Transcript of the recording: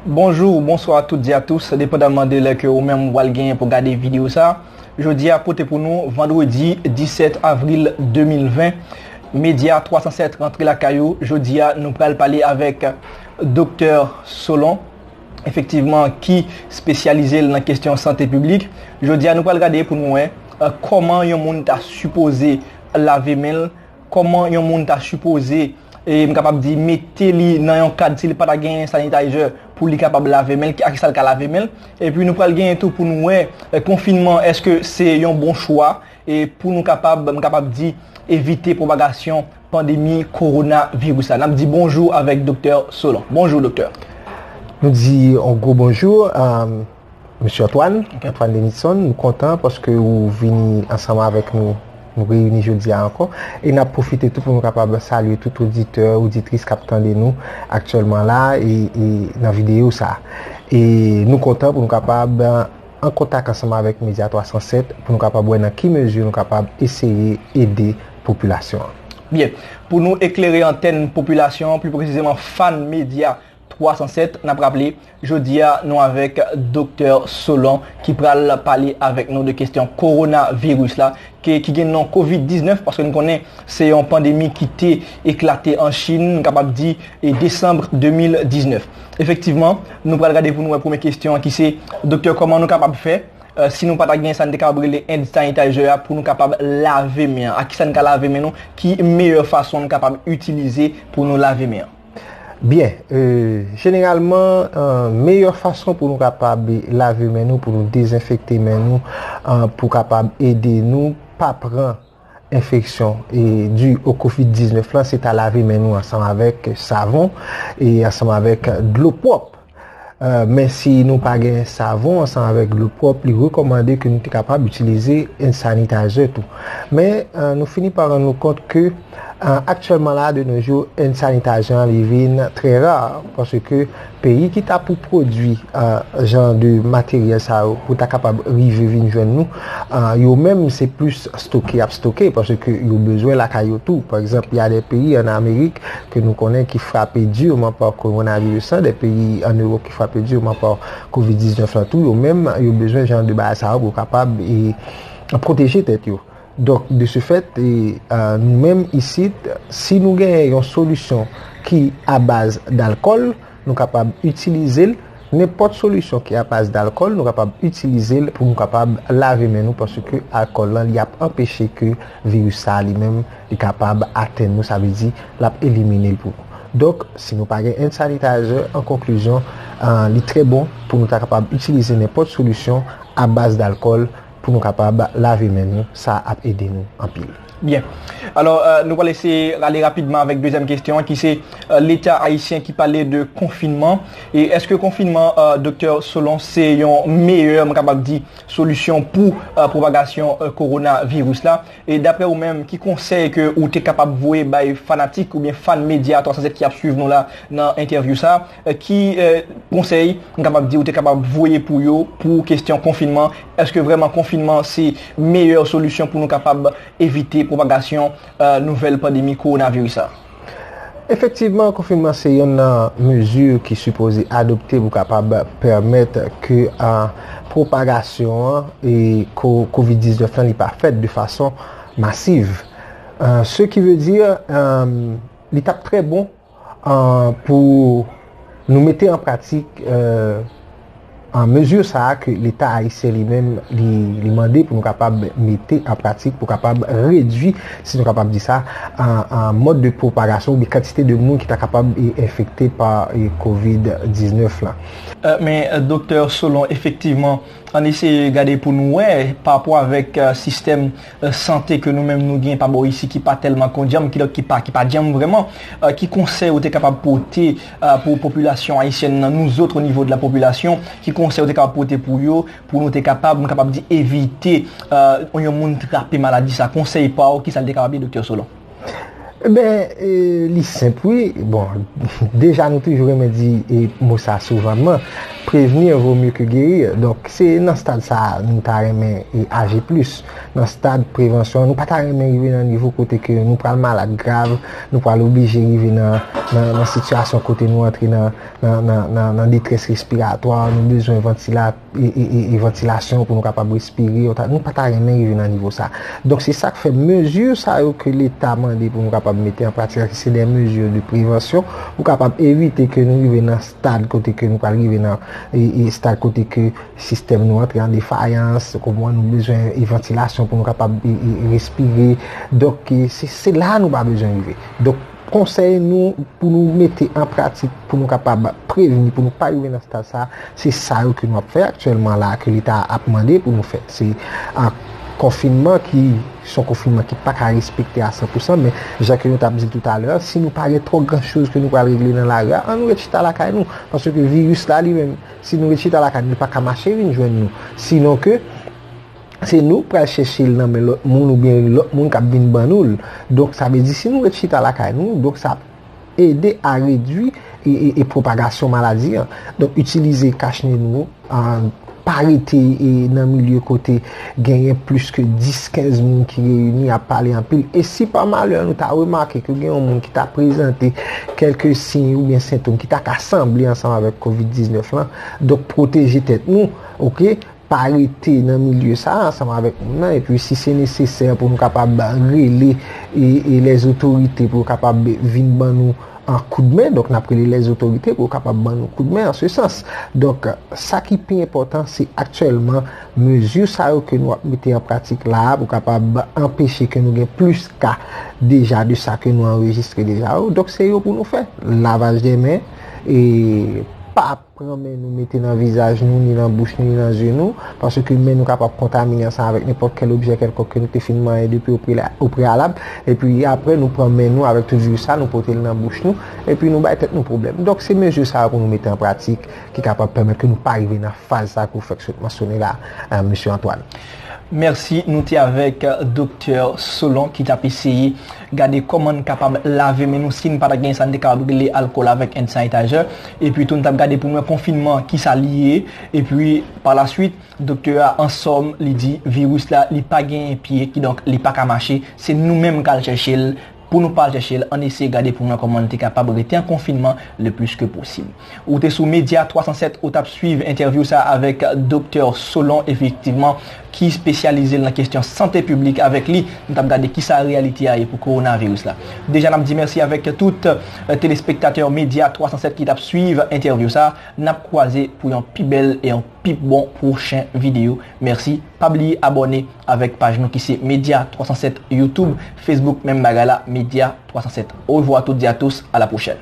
Bonjour ou bonsoir a toutes et a tous, depandamman de lè ke ou menm wal genyen pou gade video sa. Jodi a pote pou nou vendredi 17 avril 2020. Media 307 rantre lakay ou. Jodi a nou pral pale avèk Doktè Solon. efektivman ki spesyalize l nan kesyon sante piblik. Jodi a nou pral gade pou nou wè kòman yon moun ta sipoze lave men l, kòman yon moun ta sipoze e m kapab di mete li nan yon kad si li pa ta genyen sanitizer pou li kapab lave men l, ak sa l ka lave men l. Epi nou pral genyen tou pou nou wè konfinman èske se yon bon chwa e pou nou kapab m kapab di evite pwopagasyon pandemi korona viris la. Nap di bonjou avèk Doktè Solan. Bonjou Doktè. Nou di yon gwo bonjou a Mesye Antoine, Antoine Denison. Nou kontan paske ou vini ansanm avèk nou, nou reyini jodi a ankò. E nap pwofite tou pou nou kapab salye tout oditè, oditris kap tande nou aktyèlman la e nan videyo sa. E nou kontan pou nou kapab. an kontak ansanm avèk Media 307 pou nou kapab wè nan ki mezi nou kapab eseye ede popilasyon an. Byen, pou nou eklere antèn popilasyon an, pli presizeman fan Media 307, n ap raple, jodi a nou avèk Doktè Solon ki pral pale avèk nou de kestyon Kowonaviris la ke ki gen non Covid 19 paske nou konnen se yon pandemi ki te eklate an Chin, nou kapab di e Desanbre 2019. Efektivman, nou pral gade pou nou wè premye kestyon an ki se, Doktè kòman nou kapab fè, si nou pa ta gen sa n te kapab rele hand sanitizer a pou nou kapab lave men an? Ak ki sa n ka lave men nou? Ki meyè fason nou kapab itilize pou nou lave men an? Byen, jeneralman, meyè fason pou nou kapab lave men nou, pou nou dezenfekte men nou, pou kapab ede nou pa pran. enfeksyon dû o covid 19 lan se ta lave men nou ansanm avèk savon e ansanm avèk dlo pwòp men si nou pa gen savon ansanm avèk dlo pwòp li rekòmande ke nou te kapab itilize hand sanitizer tou men nou fini pa rann nou kont ke aktyèlman la de nou jou hand sanitizer li vin trè rar paske Peyi ki ta pou pwodwi jan de materyèl sa yo pou ta kapab rive vin jwenn nou, yo menm se plis stoke y ap stoke paske yo bezwen lakay yo tou. Pa egzanp, y a de peyi an Amerik ke nou konnen ki frape dirman pa kowonaviris lan, de peyi an Ewòp ki frape dirman pa kovid 19 lan tou, yo menm yo bezwen jan de bagay sa yo pou kapab pwoteje tèt yo. Donk, de se fèt, nou menm isit, si nou genyen yon solisyon ki abaz dalkòl, nou kapab itilize l, nenpòt solisyon ki abaz dalkòl, nou kapab itilize l pou nou kapab lave men nou paske alkòl lan li ap anpeche ke viris sa a li menm li kapab atenn nou, sa vle di l ap elimine l pou nou. Donk, si nou pa gen hand sanitizer, an konklizyon, li trè bon pou nou ta kapab itilize nenpòt solisyon abaz dalkòl. Pou nou kapab lave men nou, sa ap ede nou anpil. Byen. Alò, nou pral eseye ale rapidman avèk dezyèm kesyon an ki se Leta ayisyen ki pale de konfinman. E èske konfinman, Doktè Solon, se yon meyè, m kapab di, solisyon pou pwopagasyon kowonaviris la? E daprè ou menm, ki konsèy ke ou te kapab voye bay fanatik oubyen fan Media 307 ki ap swiv nou la nan entèvyou sa a? Ki konsèy m kapab di ou te kapab voye pou yo pou kestyon konfinman? Eske vrèman konfinman se meyè solisyon pou nou kapab evite pwopagasyon nouvèl pandemi kowonaviris sa? Efektivman, konfinman se yonn nan mezi ki sipoze adopte pou kapab pèmèt ke pwopagasyon covid 19 lan li pa fèt de fason masiv. Se ki ve di li t ap trè bon. Pou nou mete an pratik mezi sa a ke leta ayisyen li menm li mande pou nou kapab mete an pratik pou kapab redwi, si nou kapab di sa, mòd de pwopagasyon ou bi kantite de moun ki ta kapab enfekte pa kovid 19 la. Men Doktè Solon, efektivman, an eseye gade pou nou wè pa rapò avèk sistèm. sante ke nou menm nou gen pa bò isi ki pa tèlman kondyanm, kidonk ki pa, ki pa dyanm vrèman, ki konsèy ou te kapab pote pou popilasyon ayisyèn nan, nous autres au niveau de la population, ki konsèy ou te kapab pote pou yo, pou nou te kapab, m kapab di, evite yon moun trape maladi sa, konsèy pa ou, kisa l te kapab ye Doktè Solon? Ebyen li senp wi, bon deja nou toujou renmen di mo sa souvanman, prevenir vaut mieux que guérir, donk se nan stad sa nou ta renmen aji plis, nan stad prevansyon, nou pa ta renmen rive nan nivo kote ke nou pral malad grav, nou pral oblije rive nan sitiyasyon kote nou antre nan detrès respiratwa, nou bezwen vantilatè. e vantilasyon pou nou kapab respire, nou pa ta renmen rive nan nivo sa. Donk se sak fè mezi sa yo ke leta mande pou nou kapab mete an pratik la ki se de mezi de prevansyon pou kapab evite ke nou rive nan stad kote ke nou pral rive nan e stad kote ke sistèm nou antre an defayans, kou mwen nou bezwen e vantilasyon pou nou kapab respire. Donk se la nou pa bezwen rive. Konsèy nou pou nou mete an pratik pou nou kapab prevni pou nou pa rive nan stad sa a, se sa yo ke nou ap fè aktyèlman la a ke leta a ap mande pou nou fè. Se konfinman ki son konfinman ki pa ka respekte a san pou san men jan ke nou tap di toutalè a, si nou pa gen twò gran choz ke nou pral regle nan lari a, an nou ret chita lakay nou. Paske ke viris la li menm, si nou ret chita lakay nou li pa ka mache vin jwenn nou. Sinon ke. se nou k pral chèche l nan men lòt moun oubyen lòt moun k ap vin ban nou l. Donk sa vle di si nou ret chita lakay nou, donk sa ap ede a redui e pwopagasyon maladi an. Donk itilize kach ne nou, pa rete nan milye kote genyen plis ke 10, 15 moun ki reyini ap pale anpil. E si pa malè nou ta remake ke gen yon moun ki ta prezante kèlke siy oubyen sentom ki ta ka sanble ansanm avèk covid 19 lan, donk pwoteje tèt nou, ok. pa rete nan milye sa a ansanm avèk moun nan epi si se nesesè pou nou kapab rele e lè zotorite pou yo kapab vin ban nou an koud men donk nap rele lè zotorite pou yo kapab ban nou koud men an se sans donk sa ki pi enpòtan se aktyèlman mezi sa yo ke nou ap mete an pratik la a pou kapab anpeche ke nou gen plis ka deja de sa ke nou anrejistre deja yo donk se yo pou nou fè lavaj de men e pa Pran men nou mete nan vizaj nou, ni nan bouch nou, ni nan zye nou, paske men nou kapab kontamine ansanm avèk nenpòt kèl objè kèlkonk ke nou te fin manyen depi opreyalab, epi apre nou pran men nou avèk tout viris sa, nou pote l nan bouch nou, epi nou bay tèt nou pwoblèm. Donk, se mezi sa yo pou nou mete an pratik ki kapab pèmèt ke nou pa rive nan faz sa ke ou fèk sot mansyone la a, Mesye Antoine. Mèsi. Nou te avèk Doktè Solon ki t ap eseye Gade kòman n kapab lave men nou si n pa ta gen sa n te kapab rele alkòl avèk hand sanitizer. Epi tou n t ap gade pou mwen konfinman ki sa li ye. Epi palaswit doktè a an sòm li di viris la li pa genyen pye kidonk li pa ka mache. Se nou menm k al chèche l. Pou nou pa al chèche l, ann eseye gade pou mwen kòman n te kapab rete an konfinman le plis ke posib. Ou te sou Media 307 ou tap swiv entèvyou sa avèk Doktè Solon efektivman ki spesyalize l nan kesyon sante piblik avèk li nou tap gade kisa reyalite a ye pou kowonaviris la. Deja nap di mèsi avèk tout telespektatè Media 307 ki tap swiv entèvyou sa nap kwaze pou yon pi bèl e yon pi bon pwochen videyo mèsi pa bliye abòne avèk paj nou ki se Media 307 YouTube Facebook menm bagay la Media 307 orevwa a toutes et à tous à la prochaine.